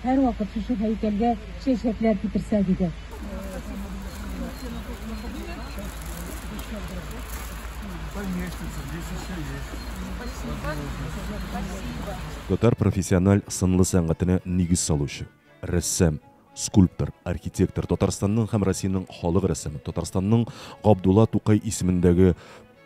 Һәрвакыт шушы һәйкәлгә чәчәкләр китерсәк иде. Татар профессиональ сынлы сәнгатенә нигез салучы, рәссам, скульптор, архитектор, Татарстанның һәм Россиянең халык рәссамы, Татарстанның Габдулла Тукай исемендәге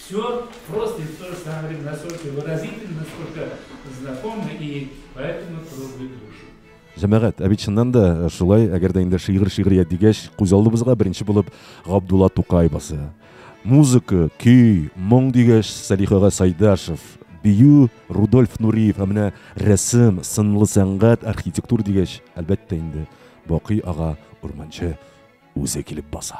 Всё просто и в тоже самое время настолько выразительно, настолько знакомо и поэтому трогает душу. Җәмәгать, ә бит чыннан да э, шулай, әгәр дә инде шигырь шигърият дигәч, күз алдыбызга беренче булып Габдулла Тукай басы. Музыка, көй, моң дигәч, Салихага Сайдашев, бию Рудольф Нуриев, ә менә рәсем, сынлы сәнгать, архитектур дигәч, әлбәттә инде Бакый ага Урманчы үзе килеп баса.